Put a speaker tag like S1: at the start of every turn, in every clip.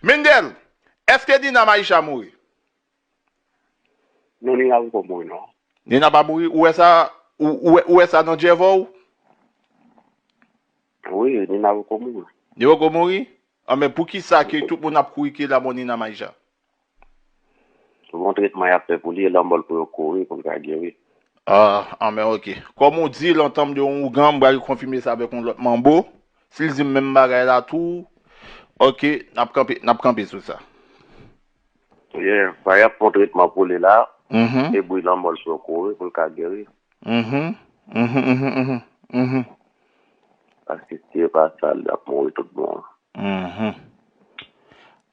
S1: Mendel, eske Nina Maïcha mouri?
S2: Non Nina poko mouri non. Nina pa mouri ou
S1: wè sa ou wè sa nan djèvò ou?
S2: Wi Nina poko mouri. Li poko mouri?
S1: Anben poukisa ke tout moun ap kouri ke la mò Nina Maïcha?
S2: Bon tretman yap fè pou li e lè anmòl pou yo kouri pou l ka geri. Ahh anmè
S1: ok. Kòm ou di l antanm de yon ougan m pral konfime sa avèk yon lòt manbo, si l di m menm bagay la tou ok nap kanpe nap kanpe sou sa.
S2: Yeah ba yap fon tretman pou li la e bri lanmòl
S1: pou yo
S2: kouri pou l ka geri. Uhmm uhmm uhmm uhmm uhmm. Paske si yo pa sa l ap mouri tout bon. Uhmm.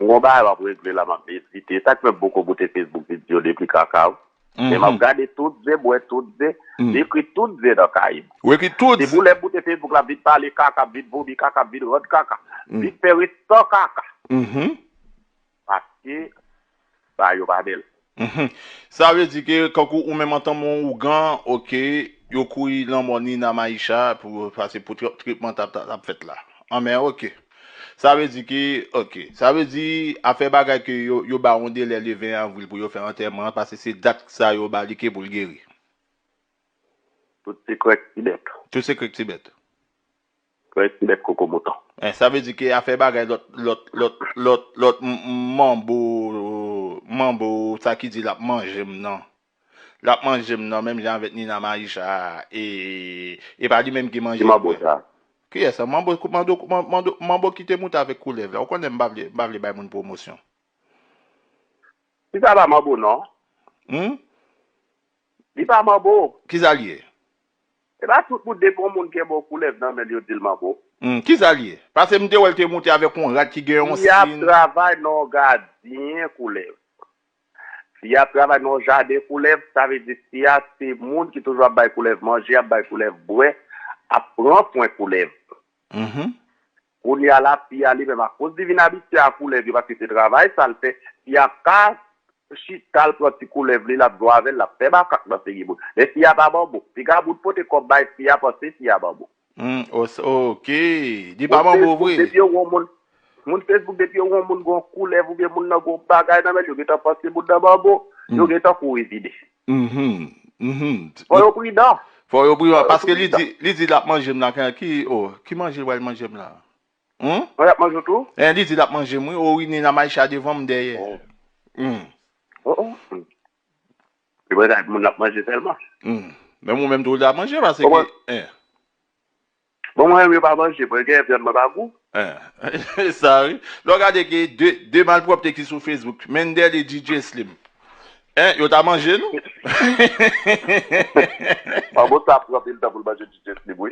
S2: M gon bagay map regle la map medite sak fè boko bote Facebook video depi kakaw men map gade tout ze bwè tout ze li ekri tout ze nan kayem se pou
S1: lèm bote Facebook
S2: lap vin pale kaka m vin vomi kaka m vin rann kaka vin fè restan kaka. Paske ba yo pa bel. Uhmm sa vle
S1: di ke kankou ou menm antanm yon ougan ok yo kouri lanmò Nina Maïcha pou pase pou tretman tap fèt la anmè ok sa vle di ke ok sa vle di afè bagay ke yo ba yon delè le 20 avril pou yo fè antèman an pase se dat sa yo ba li ke pou l geri.
S2: Tout sekrè k ti bèt. Tout sekrè k ti bèt. Près ti bèt koko mouton. Eh sa vle di ke afè
S1: bagay lòt lòt lòt lòt lòt manbo manbo sa ki di lap manjem nan lap manjem nan menm jan avèk Nina Maisha e e pa li menm ki Ki manbo sa? Kiyès sa manbo mando mando manbo ki te moute avèk koulèv la ou konnen m pa vle m pa vle bay moun pwomosyon.
S2: Kisa pa manbo non. Humm. Li pa manbo. Kisa li ye?
S1: Se pa
S2: tout moun depi yon moun gen bon koulèv nan menl yo dil manbo. Humm kisa li ye?
S1: Pase m te wèl te moute avèk yon rad ki gen yon Fi ap sin. travay
S2: nan yon gadyen koulèv. Fi ap travay nan yon jaden koulèv, sa vle di fi a se moun ki toujou ap bay koulèv manje, ap bay koulèv bwè, ap pran swen koulèv. Humm. Kounye a la, fi a li menm akoz li vin abitye a koulèv yo paske se travay sa l fè, fi a pa chita l pran ti koulèv li l ap jwe avè l l ap fè makak nan figi moun. Men fi a pa banbou. Piga moun pote kòb bay fi a panse fi a banbou. Humm o sa ok
S1: li pa banbou vre. Moun
S2: Facebook depi yo wè yon moun gen yon koulèv oubyen moun nan gen yon bagay nan men l yo gentan panse moun nan banbou, yo gentan kouri vini. Fò yo pridan. Fò yo pridan paske
S1: li di li di lap manjem la ki oh ki manje li pral manjem la humm. Oh lap
S2: manjew tou. Hein li di lap manjem wi
S1: oh wi Nina Maïcha devanm dèyè humm. Oh oh humm.
S2: Li pral di moun lap manje sèlman. Humm menm ou
S1: menm tou ou lap manje paske hein.
S2: Bon mwen menm yo pa manje mwen gen vyann mwen pa gou. Ahh e sa
S1: wi lè w gade gen de de malpwòpte ki sou Facebook Mendel et DJ Slim eh yo ta manje nou heheheheh.
S2: Manbo sa ap pran pil tan pou l manje DJ Slim wi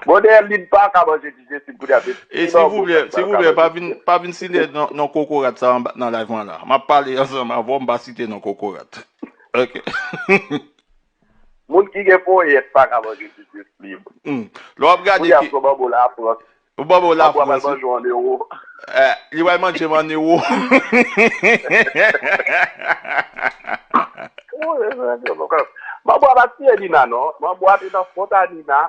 S2: bon dayè Lynn paka manje DJ Slim kounye a se ti manbo sèlman l ka manje. E silvouplè
S1: silvouplè pa vin site non kokorat sa nan live mwen la map pale ansanm avè w m pa site non kokorat ok.
S2: Moun ki gen ponyèt pa ka manje pitit li. Lè w ap gade
S1: ke. Kounye a fè w banm ou lafrans.
S2: Ou banm ou lafrans. Apre w ap al
S1: manje w an ewo. Li pral manje m an ewo.
S2: Manbo a pa t tiye Nina non. Manbo a te nan kont a Nina.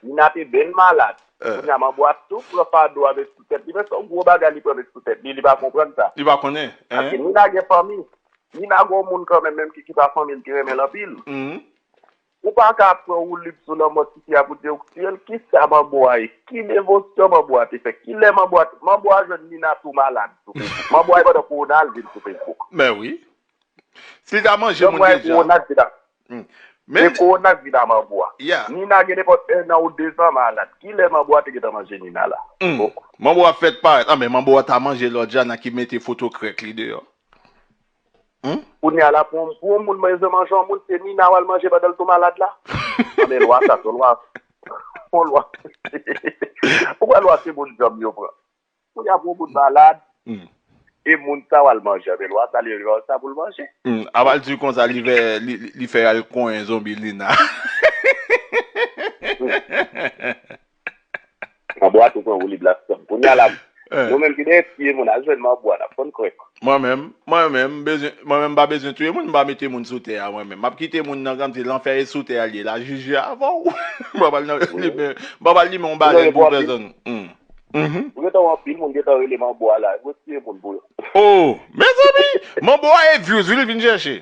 S2: Nina te byen malad. Kounye a manbo a tou pran fado a met sou tèt li. Men se yon gwo bagay li pran met sou tèt li. Li pa konprann sa. Li pa konnen. Paske
S1: Nina gen
S2: fanmi. Nina gon moun kanmenm menm kiki pa fanmi l ki renmen l anpil ou paka ap pran woulib sou lanmò tifi a pou diw k tiyel kisa manbo a ye ki devosyon manbo a te fè kilè manbo a te manbo a jwenn nina tou malad sou facebook manbo a ye pandan kowona l vin sou facebook mèwi
S1: si li ta manje moun deja.
S2: Se kowona k vina manbo a. Nina gen nenpòt 1 an ou 2 zan malad. Kilè manbo a te gentan manje Nina la? Ohh. Manbo a fèt
S1: parèt. Anben manbo a ta manje Lordiana ki mete foto krèk li deyò.
S2: Humm. Kounya la pou yon moun bezwen manje yon moun se Nina wal manje pandan l tou malad la? Anben lwa sa se yon lwa. Yon lwa. Poukwa lwa se moun djanm yo pran? Pou y ap on bout malad e moun sa w al manje avè l w a sa l yo jwenn sa pou l manje. Aval di konsa
S1: li fè li fè y al konyen zonbi Lina.
S2: Manbwa tou pran woulib la sèm. Kounye a la nou menm ki dèyè tiye moun al jwenn manbwa n ap konn krèk. Mwen menm mwen
S1: menm mwen menm m pa bezwen touye moun m pa mete moun sou tè a mwen menm. M ap kite moun nan kòmsi lanfè e sou tè a l ye la jije avè w. M pa pral nan m pa pral limen yon balèn pou pèsòn. Ou
S2: gentan wè anpil moun gentan rele manbo a la yo tiye moun pou yo. Oh mezanmi
S1: manbo a e vyouz wi li vin chèche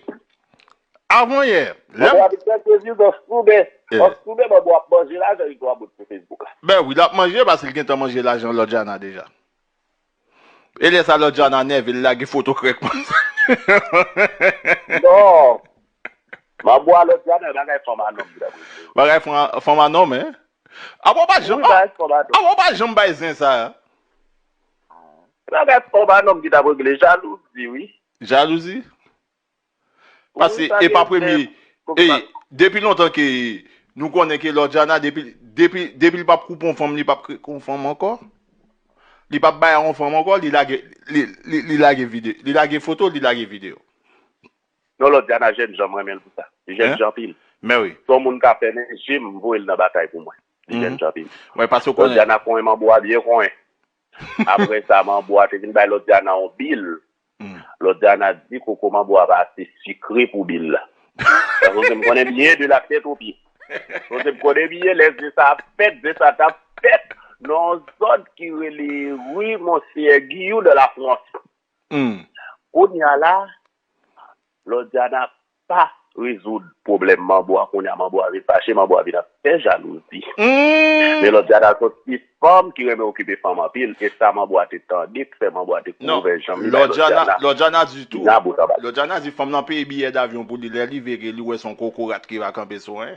S1: avan yè lèm. Manbo a vin chèche
S2: vyouz an soude an soude manbo ap manje lajan li tou a bout sou Facebook la. Ben wi lap manje
S1: paske li gentan manje lajan lòdjana deja e lè sa lòdjana nève li lage foto krèk manzè.
S2: Non M'en bwa lòt dja nan bagay fanm a nonm dam rele yo. Bagay
S1: fanm a nonm hein. Apa w pa janm Oui bagay fanm a nonm. Apa w pa janm bay zen sa. Se bagay
S2: fanm a nonm ki tap regle jalouzi wi. Jalouzi?
S1: Pase e pa premye ey depi lontan ke nou konnen ke Loredjana depi depi depi li pap koup on fanm li pap k on fanm ankò li pap bay a on fanm ankò li lage li li lage vide li lage foto li lage video.
S2: Non lodiana jèn jan m renmenl pou sa li jèn jan anpil son moun
S1: ka fèmen
S2: jem m voyel nan batay pou mwen li jèn jan anpil lodiana
S1: konyen manbo a
S2: byen konyen aprè sa manbo a te vin bay lodiana yon bil lodiana di koko manbo a pa ase sikre pou bil la sa vle di m konnen byen de la tèt o pye sa vle di m konnen byen lè zen sa ap fèt zen sa tap fèt nan yon zòn ki rele rue monseyè giyou de la france kounya la Lò Diana pa rezoud pwoblèm Manbo a kounya Manbo a vin fache, Manbo a vin ap fè jalouzi. Men lò Diana se yon ti fanm ki renmen okipe fanm anpil e sa Manbo a te tande k fè Manbo a te Non, ouvè janm li bay lò Diana Lòdjana, Lòdjana
S1: di tou, Dina bout anba. Lòdjana di fanm lan peye biyè davyon pou li lè li vire li wè son kokorat ki va kanpe sou 1.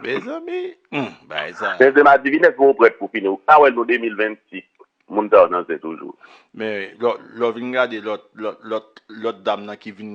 S1: Mezanmi humm bagay sa. Benzema di vin eske ou
S2: prèt pou fini ou pa wè nou 2026 moun sa yo nan zen toujou. Men
S1: lè w vin gade
S2: lòt
S1: dam nan ki vin.